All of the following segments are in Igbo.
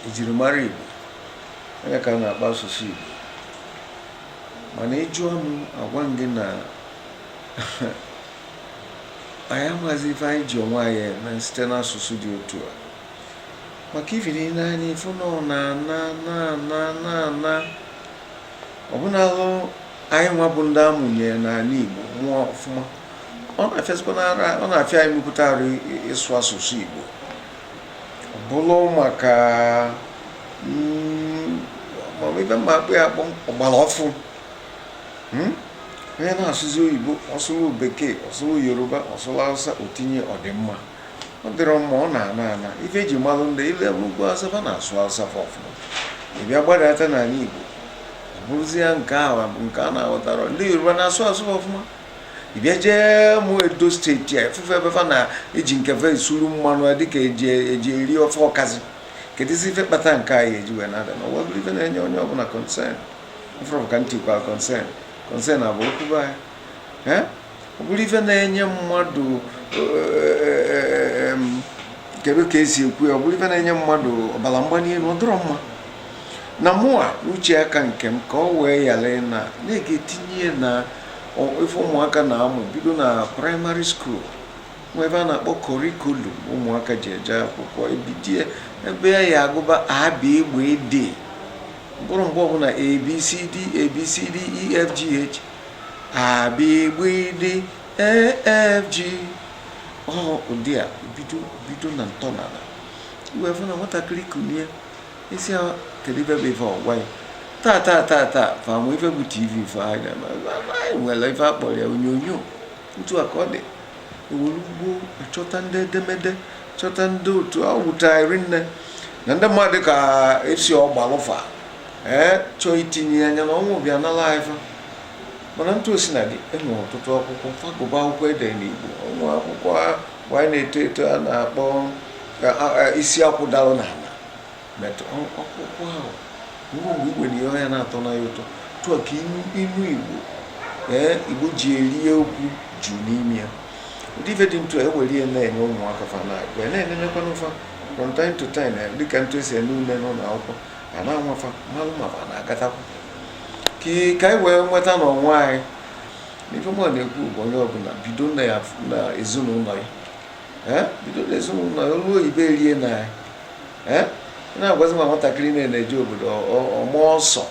ejirimara Igbo ọ ya ka a na-akpọ asụsụ Igbo mana ị jụọ m agwa m gị na anyị amaghịzi ife anyị ji onwe anyị eme site n'asụsụ dị otu a maka ife dị n'anya ị fụ na ọ na-ana na-ana na-ana ọbụna alụ anyị nwa bụ ndị a mụnye n'ani Igbo mụọ ọfụma ọ na-afịazikwa ọ na-afịa anyị mepụta arụ ịsụ asụsụ Igbo bụlụ maka mm, ife m ma akpọ ya akpọ ọgbala ọfụụ hmm? onye na-asụzi oyibo ọ sụlụ bekee ọ sụlụ yoruba ọ sụlụ hausa o tinye ọ dị mma ọ dịrọ mma ọ na-ana ana ife e ji malụ ndị i lee n'ugwu hausa fa na-asụ hausa fa ọfụma ị bịa gbadata n'ani igbo ọ bụrụzie nke a nke a na-aghọtarọ ndị yoruba na-asụ asụ ọfụma bịa jee mụ edo state a efufe ebe fa na-eji nke fa esuru mmanụ dịka eji eji eri ofe ọkazi kedụzi ife kpata nke anyị ji wee na-ada na ọwa bụrụ ife na-enye onye ọbụla concern ị fụrụ ka m tikwa concern concern abụ okwu be anyị Eh? ọ bụrụ ife na-enye mmadụ eh, em, kedu ka esi ekwu ya ọ bụrụ ife na-enye mmadụ ọbara mgbali elu ọ dịrọ mma na mụwa n'uche aka nke m ka ọ wee ghara na na-etinye ya na ife ụmụaka na-amụ bido na primary school nwe ife a na-akpọ curriculum ụmụaka ji eje akwụkwọ e bido ebe a ya agụba a b gb d ọ bụrọ mgbe ọbụna abcd abcd efgh a b gb d e f g ọhụ ụdị a bido bido na ntọala i wee fụ na nwatakịrị kunie ị sị ya kedu ife bụ ife ọ gwa ya taa taa taa taa fa ma ife bụ tv fa anya ma anyị nwere ife a kpọrọ ya onyonyo otu a ka ọ dị e were ugbua chọta ndị edemede chọta ndị otu ọ wụta iri nne na ndị mmadụ ka esi ọ gbalụ fa ee chọọ itinye ya anya na ọnwụ bịa nala ife mana etu o sina dị e nwere ọtụtụ akwụkwọ fa gụba akwụkwọ e de n'igbo o nwe akwụkwọ mgbe anyị na-eto eto a na-akpọ isi akwụ dalụ n'ala akwụkwọ ahụ ruo mgbe igwe na ihe ọhịa na-atọ na ya ụtọ tụọ ka inu igbo ee igbo ji eri okwu ju n'ime ya ụdị ife dị etu a e were ihe na-enye ụmụaka fa na-agụ ya na-enenekwanụ fa from time to time eh, dịka etu e si ene une n'ụlọ akwụkwọ a na-anwa fa malụ ma fa na-aghọtakwa ka anyị wee nweta onwe anyị na ife mụ na-ekwu bụ onye ọbụla bido na ezinụlọ ya bido n'ezinụlọ ya olu oyibo erie na ya na-agwazi ma nwatakịrị na na-eje obodo ọmụ ọsọ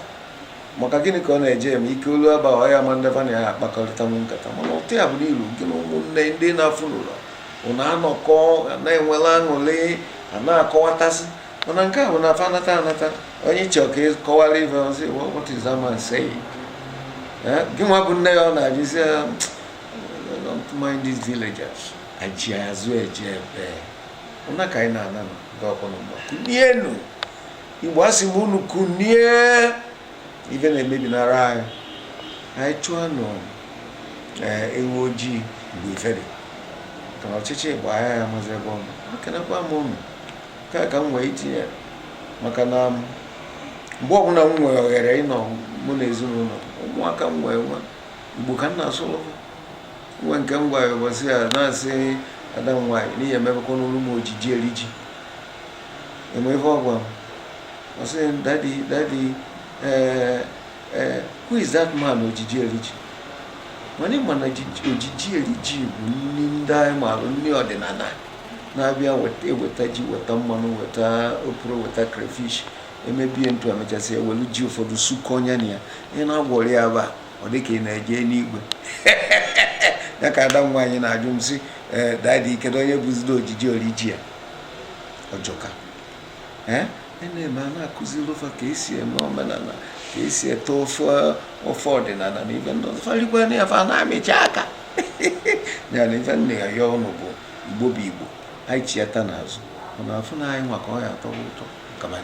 maka gịnị ka ọ na-eje eme ike olu aba ọya ma ndị va na ya akpakọrịta nkata mana ụtọ ya bụ na i lu gị na ụmụnne ndị na-afụ n'ụlọ unu anọkọ na-enwela aṅụrị a na-akọwatasị mana nke a bụ na fa nata anata onye chọọ ka ọ kọwara ife ọ sị what is that man saying gị nwa bụ nne ya ọ na-ajụzi don't mind these villagers aji azụ eje ebe ụna ka anyị na-ana ndị ọkụ na mgba kunienu igbo asị m unu kunie ife na-emebi n'ara anyị anyị chụọ nụ ee ewu ojii mgbe ife dị ka na ọchịchị gbaa a ya amazi ebe ọ nọ ekenekwa m unu nke a ka m wee itinye maka na mgbe ọbụla m nwere ohere ịnọ mụ na ezinụlọ m, ụmụaka m wee nwa igbo ka m na-asụlụ va nwa nke m gwara ụbọchị a na-asị ada m nwaanyị n'ihi emebekwanụlụ m ojiji eri ji ị ma ife ọ gwa m ọ sị m dadi dadi ee ee who is that man ojiji eri ji mana ị ma na ojiji ojiji eri ji bụ nri ndị anyị maara nri ọdịnala na a bịa weta e weta ji weta mmanụ weta oporo weta crayfish emebie ntụ emechasị ewelu ji ụfọdụ sụkọnye na ya ị na-agwọrị ya aba ọ dị ka ị na-eje n'igwe ya ka ada m nwaanyị na-ajụ m sị eh, dadi kedu onye bụzido ojiji eri ji ya ọ jọka eh, na-eme a na-akụziri fa ka esi eme omenala ka esi ete ofe ofe ọdịnala na ife ndị ọzọ fa rigwa na ya fa na-amịcha aka ya na ife m na-ayọ unu bụ igbo bụ igbo anyị chiata n'azụ mana afụ na anyị nwa ka ọ ya atọ ụtọ